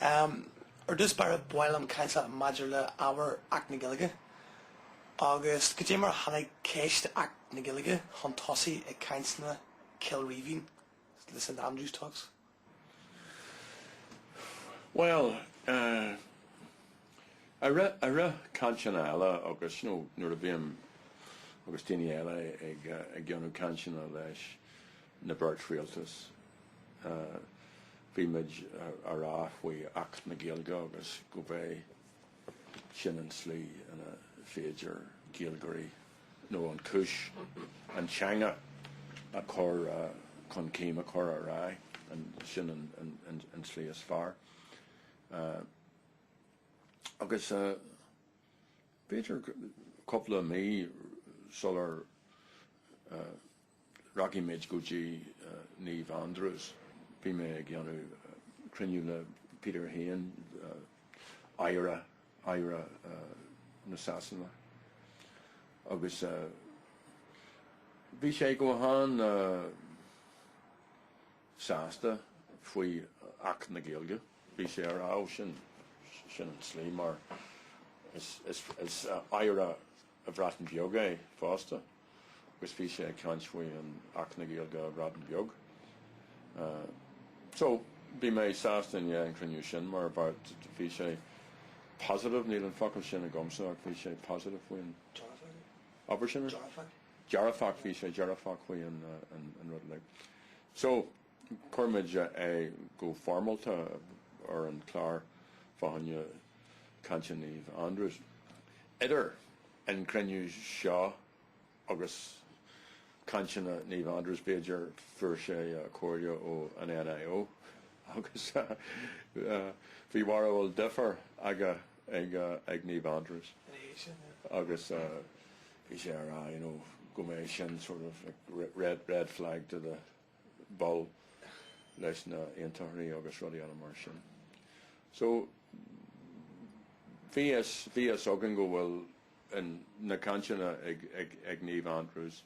Am ar dtús ba raibh baill an Chounsill maidir le ábhar Acht na Gaeilge agus caidé mar a tháinig ceist Acht na Gaeilge chun tosaigh i gcainteanna Chill Rímhinn, le St Andrews Talks. Bhuel, a rith, a rith cainteanna eile agus, you know, nuair a bhím, agus daoine eile ag déanamh cainteanna leis, na beirt rialtas. Bhí muid ag rá faoi Acht na Gaeilge agus go mbeidh sin an tslí ina féidir Gaeilgeoirí nó an cúis an teanga a chur chun cinn, a chur ar aghaidh, sin an tslí is fearr. Agus b'fhéidir cúpla mí sular Rachaidh muid go dtí Naomh Andrews. Bhí mé ag déanamh cruinniú le Peter Hain, Aire, Aire na Sasana, agus bhí sé go han-sásta faoi Acht na Gaeilge. Bhí sé ag rá sin, sin an tslí mar is Aire, a Bhreatain Bheag é fosta agus bhí sé ag caint faoi an Acht na Gaeilge a Bhreatain Bheag. So, bhí mé sásta i ndiaidh an chruinniú sin mar bhí sé positive, níl an focal sin agamsa ach bhí sé positive faoi an obair sin. Dearfach. Dearfach, bhí sé dearfach faoi an rud uilig. So. Chuir muid é go foirmeálta ar an gclár fá choinne cainteanna Naomh Andrew's. Idir an cruinniú seo agus cainteanna Naomh Andrew's, b'fhéidir, fuair sé comhairle ó an NIO agus bhí barúil difear aige ag Naomh Andrew's agus bhí sé ag rá go mbeidh sin sort of red flag to the bull leis na haontachtaithe agus rudaí eile mar sin. So bhí fhios bhí fhios againn go bhfuil in na cainteanna ag ag ag Naomh Andrews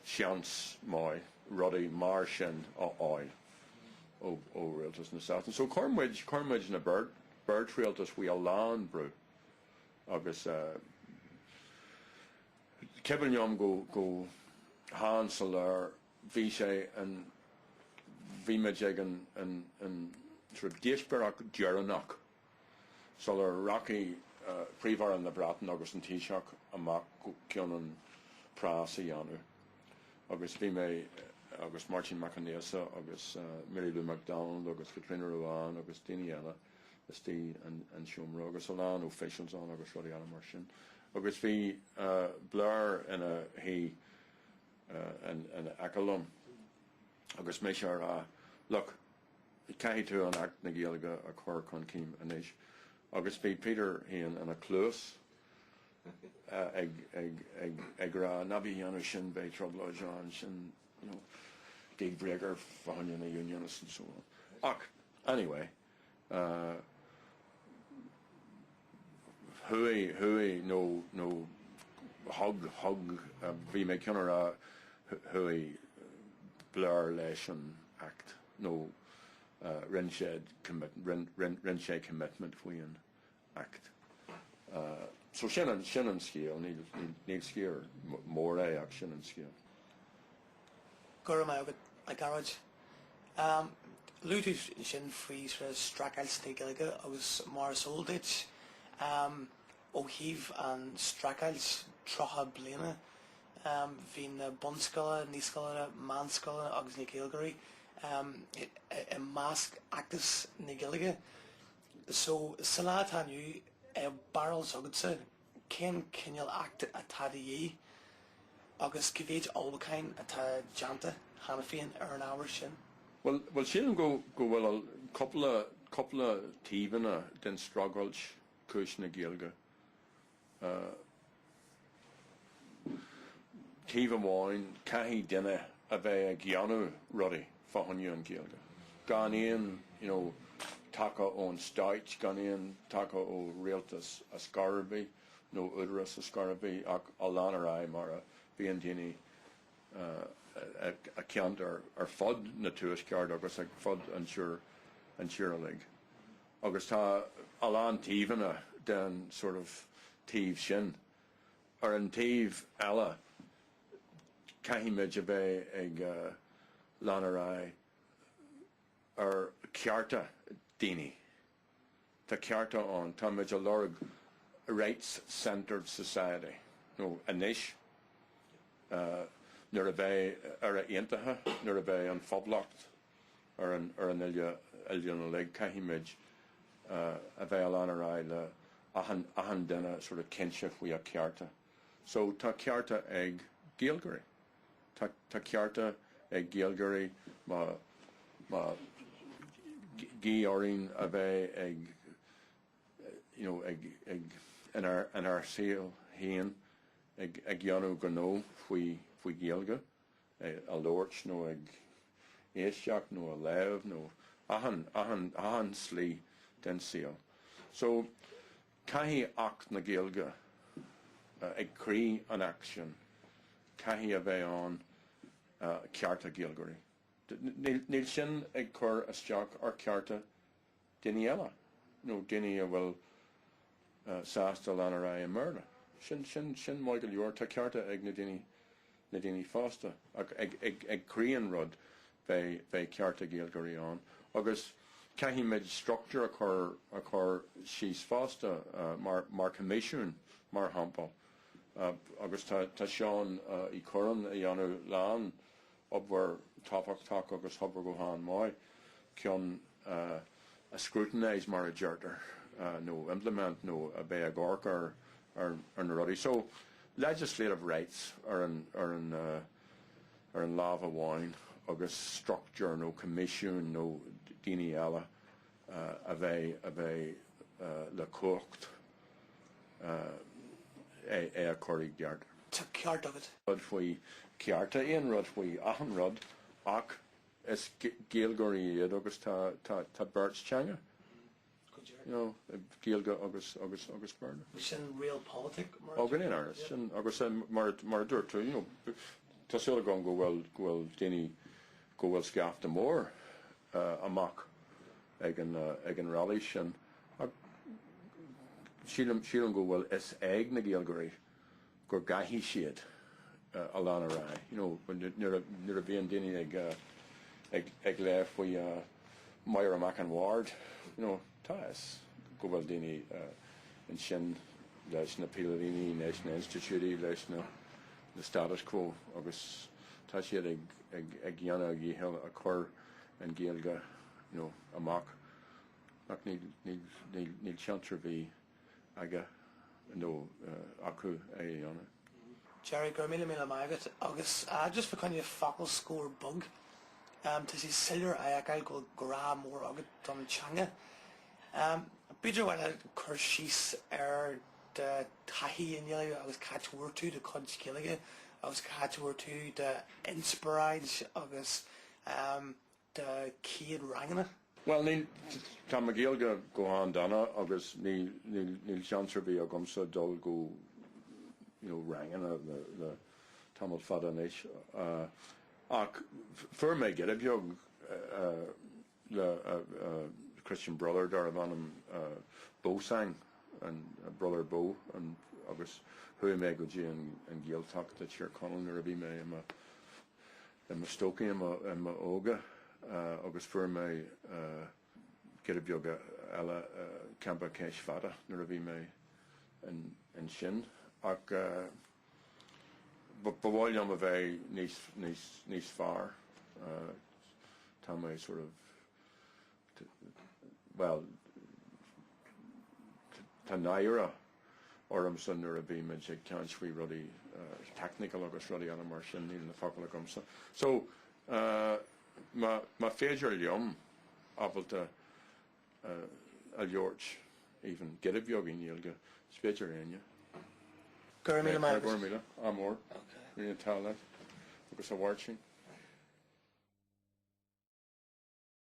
seans maith rudaí mar sin a fháil ó ó Rialtas na Sasana. So chuir muid chuir muid na beirt beirt rialtas faoi a lán brú agus eh d'éirigh linn go go han-soiléir Bhí sé an, bhí muid ag an, an, an sort of díospóireacht dheireanach sular rachaidh Príomh-Aire na Breataine agus an Taoiseach amach fá choinne preas a dhéanamh agus bhí mé agus Máirtín Mac Aonghusa agus Mary Lou McDonald agus Caitríona Ruane agus daoine eile istigh in an seomra agus a lán officials ann agus rudaí eile mar sin agus bhí Blair ina shuí in aice liom agus mise ag rá, look, caithfidh tú Acht na Gaeilge a chur chun cinn anois. Agus bhí Peter Hain ina chluas ag rá, ná bí ag déanamh sin, beidh trioblóid ann, sin, you know, deal breaker fá choinne na unionists and so on. Ach, anyway. Chuaigh, chuaigh, nó, nó, thug, thug, bhí mé ag gabháil a rá, chuaigh Blair leis an Acht, nó rinne sé, rinne sé commitment faoi an, Acht. So sin an, sin an scéal. Níl, níl scéal mór é ach sin an scéal. Go raibh maith agat, a Ghearóid. Luaigh tú ansin faoi sort of streachailt na Gaeilge agus mar is eol duit, ó thaobh an streachailt, tríocha bliana, bhí na bunscoileanna, naíscoileanna, meánscoileanna agus na Gaeilgeoirí i measc fheachtas na Gaeilge. So, sa lá atá inniu i mbarúil s'agatsa cén cineál acht atá de dhíth agus cé mhéid ullmhúcháin atá déanta cheana féin ar an ábhar sin? Bhuel, bhuel sílim go, go bhfuil cúpla, cúpla taobhanna den streachailt cúis na Gaeilge. taobh amháin, caithfidh duine a bheith ag déanamh rudaí fá choinne an Ghaeilge, gan aon you know taca ón stáit, gan aon taca ó rialtas ar chor ar bith nó údarás ar chor ar bith ach a lean ar aghaidh mar a bhíonn daoine sa cheantar ar fud na Tuaisceart agus ar fud an tír uilig. Agus tá a lán taobhanna den sort of taobh sin. Ar an taobh eile, caithfimid a bheith ag lean ar aghaidh ar chearta daoine. Tá cearta ann. Tá muid ag lorg rights centred society nó anois nuair a bheidh Éire Aontaithe, nuair a bheidh an Phoblacht, ar an ar an oile oileán uilig caithfimid a bheith a lean ar aghaidh le achan achan duine sort of cinnte faoi a cearta. So tá cearta ag Gaeilgeoirí. Tá tá cearta ag Gaeilgeoirí má má gí orainn a bheith ag you know ag ag in ár in ár saol féin ag ag dhéanamh gnó faoi faoi Ghaeilge. é a labhairt nó ag éisteacht nó a léamh nó achan, achan, achan slí den saol. So caithfidh Acht na Gaeilge uh, ag croí an Act sin caithfidh a bheith ann uh, cearta Gaeilgeoirí. Níl sin ag cur isteach ar cearta daoine eile nó daoine a bhfuil sásta lean ar aghaidh i mBéarla. Sin, sin, sin maith go leor, tá cearta ag na daoine, na daoine fosta ach ag, ag, ag croí an rud beidh, beidh cearta Gaeilgeoirí ann agus caithfimid structúr a chur, a chur síos fosta mar, mar choimisiún mar shampla agus tá, tá Seán Uí Chuirreáin a dhéanamh lán, obair tábhachtach agus obair go han mhaith, chun a scrutinise mar a deirtear nó implement nó a bheith ag amharc ar ar na rudaí. So legislative rights ar an ar an ar an lámh amháin agus structure nó commission nó daoine eile a bheith a bheith le cumhacht é a chur i gceart. Tá ceart agat. rud faoi chearta, aon rud faoi achan rud, ach is Gaeilgeoirí iad agus tá beirt teanga, you know, Gaeilge agus agus agus Béarla. Sin realpolitik mar a dúirt tú. Ó go ndéana, agus sin agus mar mar a dúirt tú, you know, tá súil agam go bhfuil go bhfuil daoine go bhfuil scaifte mór amach ag an rally sin ach sílim go bhfuil fhios ag na Gaeilgeoirí go gcaithfidh siad a lean ar aghaidh. Nuair a bhíonn daoine ag léamh faoi Máire Mac an Bhaird, Tá fhios go bhfuil daoine ansin leis na póilíní, leis na institiúidí, leis na status quo agus tá siad ag dhéanamh a dhícheall a chur an Ghaeilge amach. Ach níl seans ar bith aige nó acu é a dhéanamh. Gerry go raibh míle míle maith agat agus just fá choinne focal scoir beag tá sé soiléir a fheiceáil go bhfuil grá mór agat don teanga b'fhéidir uainn a chur síos ar do taithí i nGaeilge agus cá háit a bhfuair tú do chuid Gaeilge agus cá háit a bhfuair tú do inspioráid agus de chéad ranganna. Bhuel, níl, tá mo Ghaeilge go han-dona agus níl seans ar bith agamsa dul go, you know, ranganna le tamall fada anois. Ach fuair mé giota beag le Christian Brother darbh ainm Beausang, Brother Beau, agus chuaigh mé go dtí an Ghaeltacht i dTír Chonaill nuair a bhí mé i mo I mo stócach i mo óga agus fuair mé giota beag eile i gcampa Cheis Fada nuair a bhí mé ansin ach ba mhaith liom a bheith níos fearr tá mé sort of bhuel, tá náire ormsa nuair a bhímid ag caint faoi rudaí technical agus rudaí eile mar sin, níl na focail agamsa. So, más féidir liom ábalta a labhairt even giota beag i nGaeilge, is féidir le éinne. Go raibh míle maith agat. Go raibh míle. Ádh mór. Ok. Go n-éirí an t-ádh leat. Agus a Mháirtín.